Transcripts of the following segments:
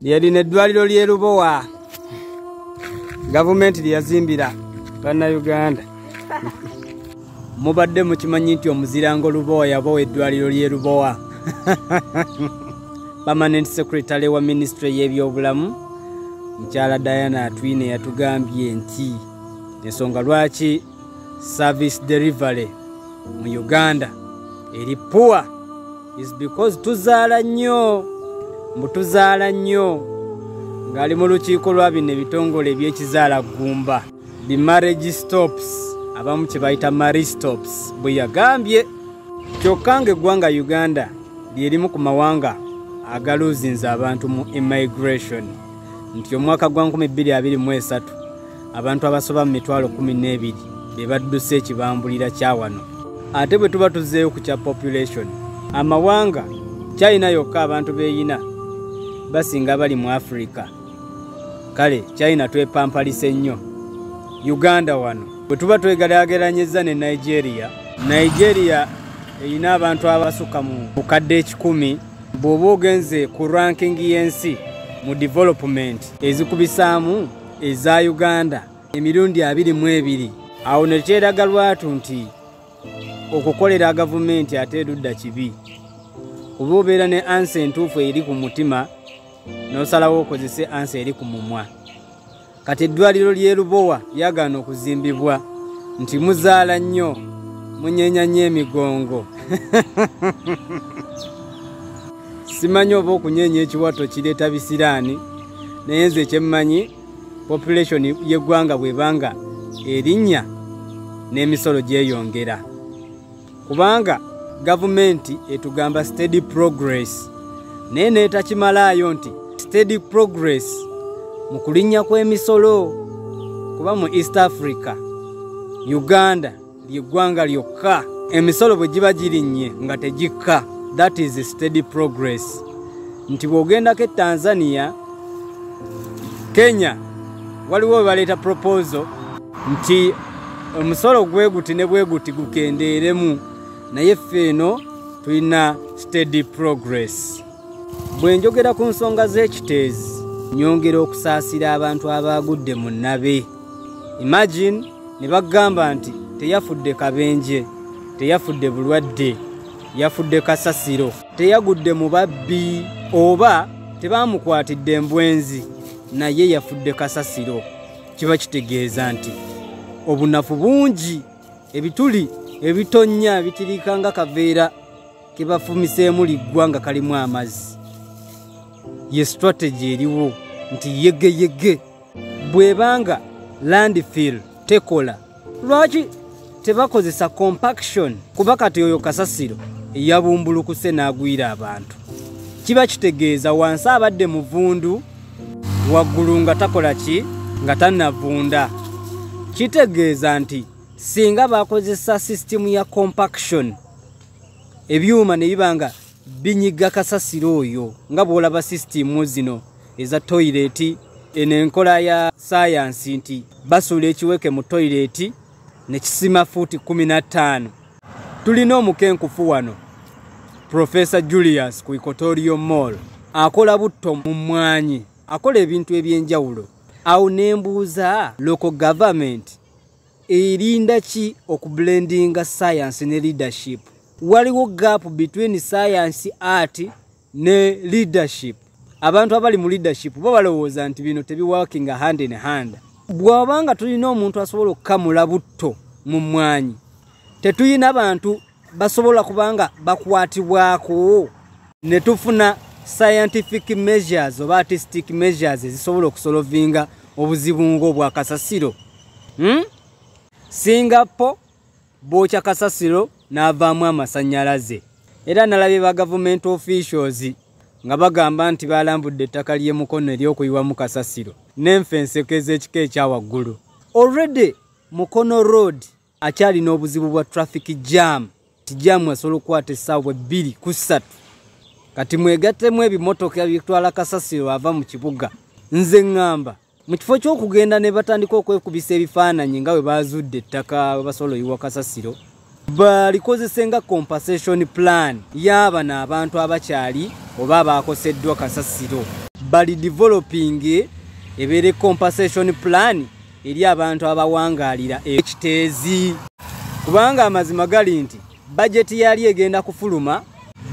yalina eddwaliro ly'e lubowa gavumenti lye yazimbira bannayuganda mubadde mukimanyi nti omuzirango lubowa yabawa eddwaliro ly'e lubowa permanent secretary wa minisitule y'ebyobulamu mukyala diana atwine yatugambye nti ensonga lwaki service delivery mu uganda eri poor is because tuzaala nnyo mbu tuzaala nnyo ng'ali mu lukiiko lwa bino ebitongole ebyekizaala ggumba the marriage stops abamu kye bayita marriage stops bwe yagambye kyokka ng'eggwanga uganda lyerimu ku mawanga agaluuzinza abantu mu immigration nti omwaka gwa 223 abantu abasoba mu mitwalo kumi n'ebiri be badduse ekibambulira kya wano ate bwe tuba tuzzeeyo ku kya population amawanga china yokka abantu beeyina basinga abali mu afirika kale china twepampalise nnyo uganda wano bwe tuba twegeraageranyizza ne nigeria nigeria erina abantu abasukka mu bukadde ekikumi bw'oba ogenze ku ranking y'ensi mu development ezikubisaamu eza uganda emirundi abiri mu ebiri awo ne kyeraga lwatu nti okukolera gavumenti ate erudda kibi kuba obeera ne ansa entuufu eri ku mutima n'osalawo okozese ansa eri ku mumwa kati eddwaliro ly'e lubowa lyagaana okuzimbibwa nti muzaala nnyo munyeenya nnyo emigongo simanyi oba okunyeenya ekiwato kireeta bisiraani naye nze kyemmanyi population y'eggwanga bwebanga erinnya n'emisolo gyeyongera kubanga gavumenti etugamba steady progress naye neetakimalaayo nti steady progress mu kulinnya kw'emisolo kuba mu east africa uganda ly'eggwanga lyokka emisolo bwe giba girinnye nga tegikka that is steady progress nti bw'ogendako e tanzania kenya waliwo webaleeta proposal nti omusolo gweguti ne bweguti gukendeeremu naye ffe eno tulina steady progress bwe njogera ku nsonga z'ekiteezi nyongera okusaasira abantu abaagudde mu nabe imagine ne bagamba nti teyafudde kabenje teyafudde bulwadde yafudde kasasiro teyagudde mu babbi oba tebaamukwatidde embwenzi naye yafudde kasasiro kiba kitegeeza nti obunafu bungi ebituli ebitonnya bitirika nga kaveera ke bafumiseemu liggwa nga kalimu amazzi ye sitrategi eriwo nti yegeyege bwebanga landfill tekola lwaki tebakozesa compaction kuba kati oyo kasasiro eyabumbulukuse n'agwira abantu kiba kitegeeza wansi abadde muvundu waggulu nga takola ki nga tanavunda kitegeeza nti singa bakozesa sisitimu ya compaction ebyuma ne biba nga binyiga kasasiro oyo nga bw'olaba sisitimu zino eza toyireeti eno enkola ya sayansi nti basuula ekiweke mu toyireeti ne kisima fuuti kkumi na ttaano tulina omukenkufu wano profesa julius ku ikotorio mall akola butto mu mmwanyi akola ebintu eby'enjawulo awo ne mbuuza local government erinda ki okublendinga sayansi ne leadership waliwo gap between sayansi art ne leadership abantu abali mu leadership bo balowooza nti bino tebiwakinga hand in hand bw'oba nga tulina omuntu asobola okukamula butto mu mmwanyi tetuyina bantu basobola kubanga bakwatibwako ne tufuna scientific measures oba artistic measures ezisobola okusolovinga obuzibu ng'obwakasasiro hmm? singapore bookya kasasiro n'avaamu amasannyalaze era nalabye ba gavumenti officials nga bagamba nti balambudde ettaka ly'e mukono ery'okuyiwamu kasasiro n'enfa enseko ez'ekika ekya waggulu already mukono road akyalina obuzibu bwa traffic jam ti jamu asobola okukwata essaawa ebbiri ku ssatu kati mwegattemu ebimotoka bitwala kasasiro ava mu kibuga nze ŋŋamba mu kifo ky'okugenda ne batandika okwekubisa ebifaananyi nga bwe baazudde ettaka basobola oyiwa kasasiro balikozese nga compensation plan y'abano abantu abakyali oba abaakoseddwa kasasiro bali developing ebeere compensation plan eri abantu abawangaalira ekiteezi kubanga amazima gali nti bajeti yali egenda kufuluma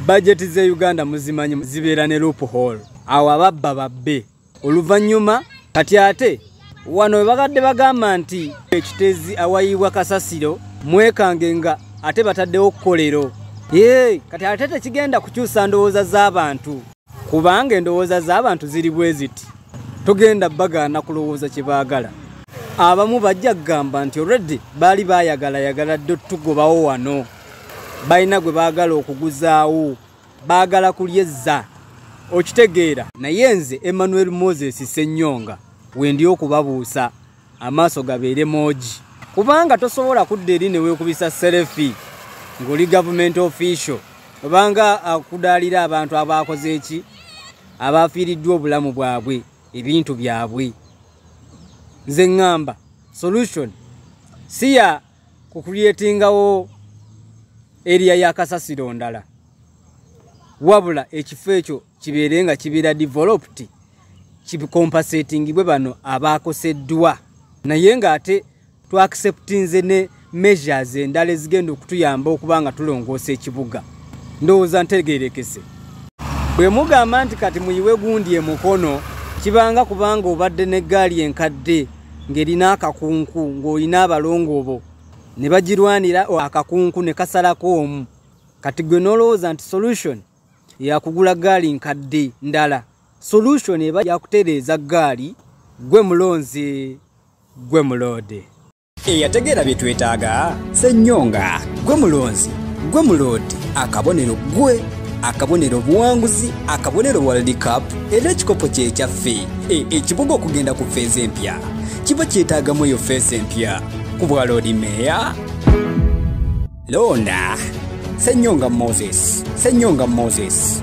bajeti z'e uganda muzimanyi zibeera ne loop hall awo ababba babbe oluvannyuma kati ate wano webagadde bagamba nti ekitezi awayiibwa kasasiro mwekange nga ate bataddewo kkolero ee kati ate tekigenda kukyusa ndowooza z'abantu kubanga endowooza z'abantu ziri bwe ziti togenda bagaana kulowooza kye baagala abamu bajja kugamba nti olreddi baali baayagalayagala dde otugobawo wano balina gwe baagala okuguzaawo baagala kulya ezza okitegeera naye nze emmanuel moses ssenyonga wendi okubabuusa amaaso gabeere moogi kubanga tosobola kudda eri ne weekubisa serefi ng'oli gavumenti official obanga akudaalira abantu abaakoze eki abaafiiriddwa obulamu bwabwe ebintu byabwe nze ŋŋamba solution siya ku kulyetingawo eriya ya kasasiro ndala wabula ekifo ekyo kibeere nga kibeera developed kikompasetingibwe bano abaakoseddwa naye ng'ate twakiseputinze ne measures endala ezigenda okutuyamba okuba nga tulongoosa ekibuga ndowooza ntegerekese bwe mugamba nti kati muyiwe gundi emukono kibanga kubanga obadde n'eggaali enkadde ng'erina akakunku ng'olina abalongo bo ne bagirwanira akakunku ne kasalako omu kati gwe n'olowooza nti solution yakugula gaali nkadde ndala solution eba yakutereeza gaali gwe mulonzi gwe muloode eyategeera bye twetaaga senyonga gwe mulonzi gwe muloodi akabonero gwe akabonero obuwanguzi akabonero world cup era ekikopo kyekyaffe e, ekibuga okugenda ku feeza empya kiba kyetaagamu eyo feesa empya ku bwaloodi meeya loona senyonga moses senyonga moses